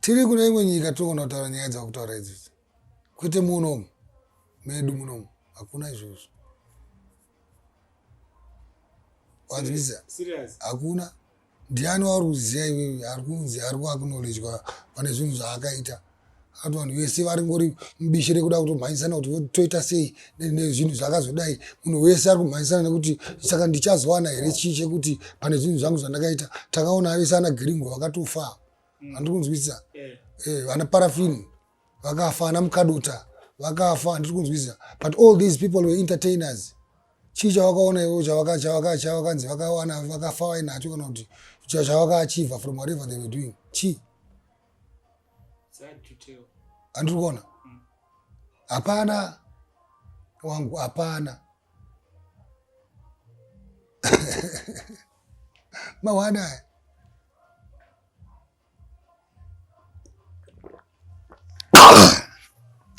Tiri kune imwe nyika tinogona kutaura nyaya dzakutaura idzidzi kwete munomu medu munomu hakuna izvozvo wanzwisa hakuna ndiani wauri kuziva iwewe ari kunzi ari kuaknolejwa pane zvinhu zvaakaita akati vanhu vese varingori mubishi rekuda kutomhanyisana kuti toita sei nezvinhu zvakazodai munhu wese ari kumhanyisana nekuti saka ndichazowana here chii chekuti pane zvinhu zvangu zvandakaita takaona vese ana giringo vakatofa mm. handiri kunzwisisa eh. Eh, vana parafini vakafa ana mukadota vakafa handiri kunzwisisa but all these people were entertainers chii chavakaona ivo chavakanzi vakawana vakafa vainacho kana kuti chavakaachiva from whatever they were doing chii andiri kuona mm. hapana wangu hapana mawana aya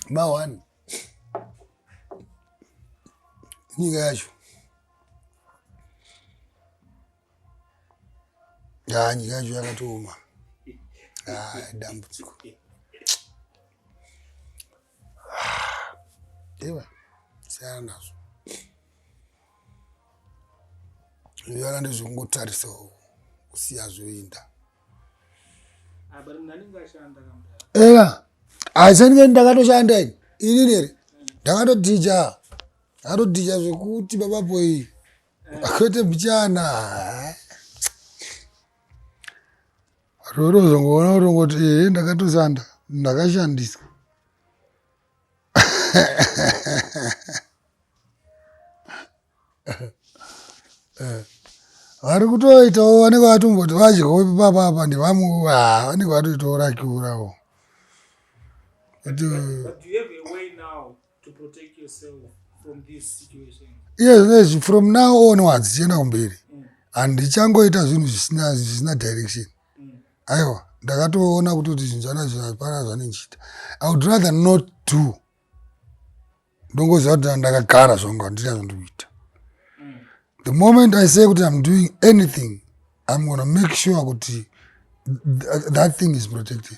mawani nyika yacho ya nyika yacho yakatooma dambudziko iva siyana nazvo zviyana ndezvekungotarisawo kusiya zvoinda eka aisandike ndakatoshanda ini ini nere ndakatodhija ndakatodhija zvekuti baba boyi Kwete mchana. Roro uzongoona kuti ngoti eh ndakatosanda ndakashandiswa. Eh. Vari kutoitawo vanenge vatomboti vadyawo ipapa apa ndevamwe ah, vanenge vatoitawo rakiurawo. But, uh, but you have a way now. iye zvinezvi from now on wadzichienda kumberi mm. and ndichangoita zvinhu zvisina zvisina direction mm. aiwa ndakatoona kuti kuti zvinhu zvanazvo hapana zvanendichiita i would rather not do ndongoziva kuti ndakagara zvangu handina zvandikuita mm. the moment i say kuti iam doing anything iam gona make sure kuti that thing is protected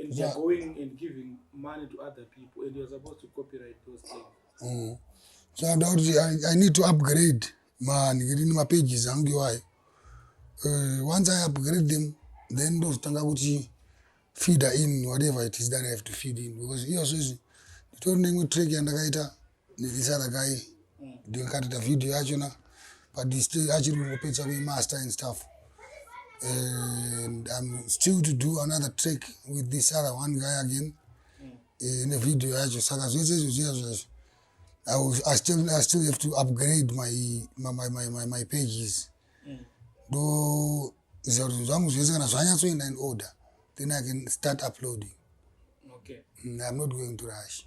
and they're yeah. going and giving money to other people and you're supposed to copyright those things mm. so i doubt I, i need to upgrade man ngirini mapages angu iwayo uh, once i upgrade them then ndozotanga kuti feeder in whatever it is that i have to feed in because iyozvo izvi nditori neimwe track yandakaita Nilisana kai ndio nikatita video yacho na padisplay achiri kungopedza kuimaster and stuff and I'm still to do another track with this other one guy again eh, ne video yacho saka zvese izvo zviya zvazvo I, was, I, still, I still have to upgrade my, my, my, my, my, my pages ndo ziva kuti zvangu zvese kana zvanyatsoenda in order then I can start uploading okay. mm, I'm not going to rush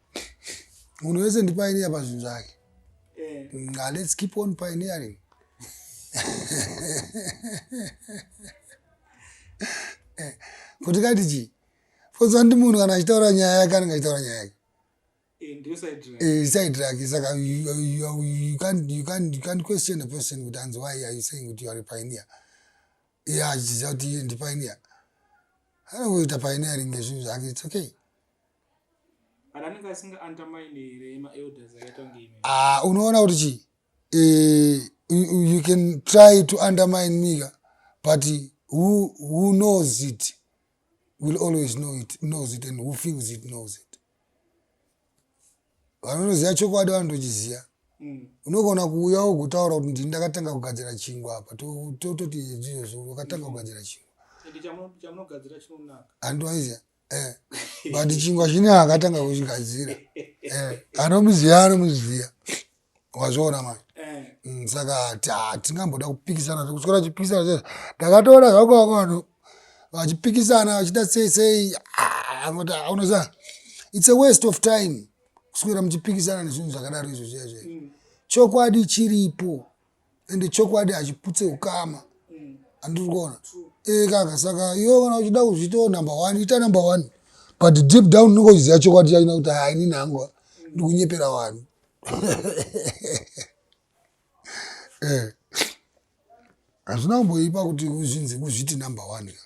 munhu wese ndipaineya pazvinhu zvake eh. mm, ah, let's keep on pioneering eh, kuti kati chii bcause vandi munhu kana achitaura nyaya yake anenge achitaura nyaya yake eh, side rake saka you can't question a person kuti anzi why are you saying kuti you are a pioneer iye achiziva kuti iye ndipioneer anoita pioneering ngezvinhu zvake its okay Ah, unoona kuti chii eh, you can try to undermine me ka but who, who knows it will always know it knows it and who feels it knows it vanonoziva chokwadi vanotochiziva mm. unogona kuuya wogotaura kuti ndini ndakatanga kugadzira chingwa apa tototi izvozvo wakatanga mm. kugadzira chingwa handiwaiziva eh, but chingwa chine akatanga kuchigadzira eh, anomuziva anomuziva wazviona manje eh. mm, saka hatingamboda kupikisana kuswera chipikisana chese ndakatoona zvako wako vanhu vachipikisana vachita sei sei ah, unoziva it's a waste of time kuswera muchipikisana nezvinhu zvakadaro izvo zviya zviya mm. chokwadi chiripo ende chokwadi hachiputse ukama andiri kuona ee kaka saka iwe kana uchida kuzviitawo number one ita number one but deep down unenge uchiziva chokwadi chachina kuti haa inini hangu ndikunyepera vanhu eh. hazvina kumboipa kuti uzvinzi kuzviti number one ka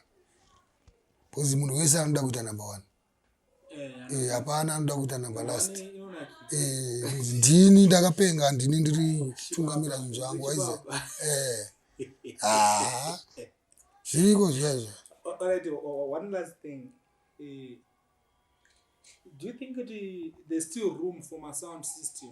bcause munhu wese anoda kuita number one eh, hapana eh, anoda kuita number last eh, ndini ndakapenga ndini ndiri tungamira zvinhu zvangu aize eh. ah. zviriko zviyaizvo do you think kuti there's still room for my sound system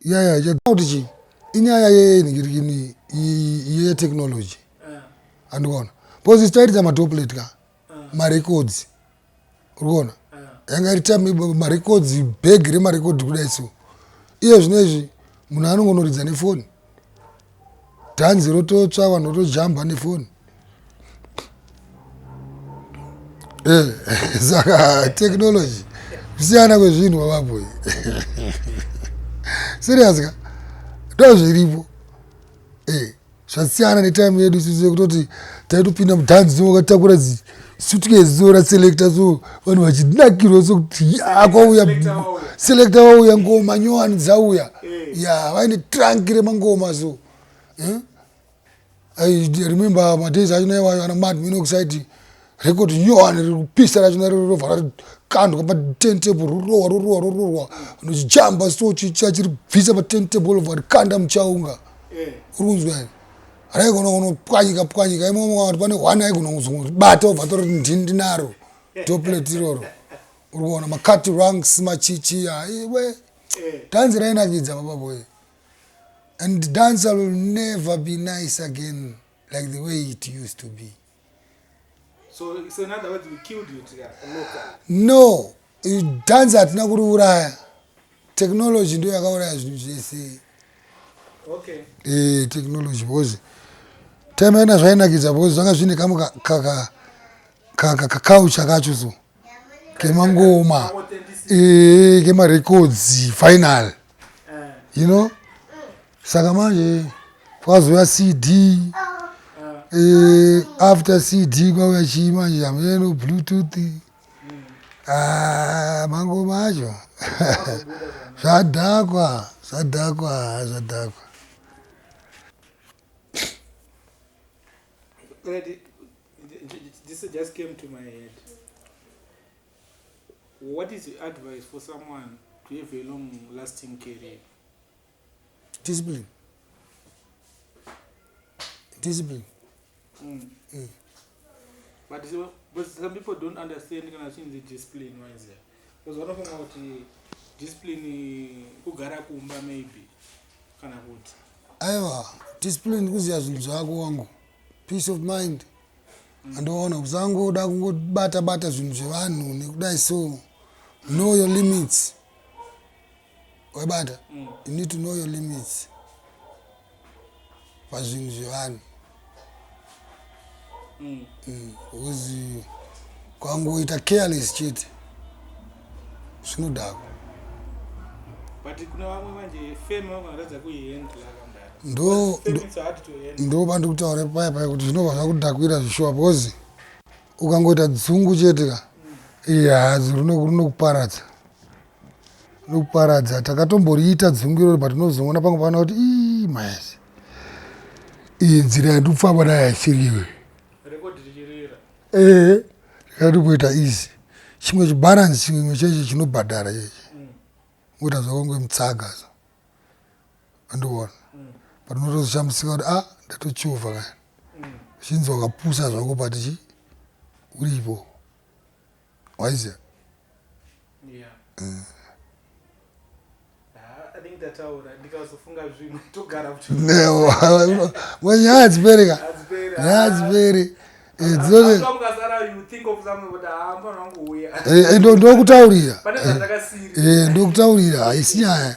yaya chakuti kuti chii inyaya yenhikirikini yetechnology andikuona bcause ichitairita matoplet ka marecords urikuona yanga iri time marecords bag remarecord kudai so iye zvino izvi munhu anongonoridza nefoni dhanzi rototsva vanhu votojamba nefoni eh, saka technology kusiyana kwezvinhu wavaboi serious ka ndozviripo eh, zvasiyana netime yedu sisi yekutoti taitopinda mudhanzi dzimwe ukatakura dzii suitcase so raselecta so vanhu vachinakirwa sokuti yakwauya selecta wauya ngoma nyowani dzauya eh. ya vaine trunk remangoma so eh? i remember madays achina iwayo ana mad minoxide record nyowani riri kupisa rachina rirova rakandwa paten table rorowa rorowa rorowa nochijamba so chichachiribvisa paten table lova rikanda muchaunga eh. uri kunzwa here raigona kunopwanyika pwanyika imomo kana kuti pane hwana aigona kuzobata obva tori ndinaro doplet iroro uri kuona macut ranks machichi aiwe eh, eh. dhanzi rainakidza baba boy and dance will never be nice again like the way it used to be no dance hatina kuriuraya technology ndo yakauraya zvinhu zvese okay. e, technology because time yona zvainakidza because zvanga zvine kamwe kakaucha kacho so kemangoma e, kemarecords final eh. you know saka manje kwazouya cd eh, after cd kwauya chii manje hameno bluetooth ah, mango macho zvadhakwa zvadhakwa zvadhakwa just came to my head what is your advice for someone to have a long lasting career discipline discipline mm. Mm. but, but some people don't understand kana chinzi discipline wise because vanofunga kuti discipline kugara kumba maybe kana kuti aiwa discipline kuziva zvinhu zvako wangu peace of mind mm. andoona kusangoda kungobata bata zvinhu zvevanhu nekudai so know your limits wabata mm. you need to know your limits pazvinhu zvevanhu mm. mm. because kwangoita careless chete zvinodhako ndo pandikutaura paya paya kuti zvinobva zvakudhakwira zvishuwa because ukangoita dzungu chete ka mm. iya hazi rinokuparadza Lokuparadza takatomboriita dzungu irori but unozoona pamwe pavana kuti ii maes iyi nzira yandikufamba nayo haisiriwe ee ndikatokuita easy chimwe chibalance chimwe chechi chinobhadhara chechi kuita mm. zvakonge mutsaga so andiona mm. but unotozoshamisika kuti a ah, ndatochuva kani mm. uchinzi wakapusa zvako patichi uripo waiziva yeah. mm. mwenyaya dzipere ka nyaya dzipere ndokutaurira ndokutaurira haisi nyaya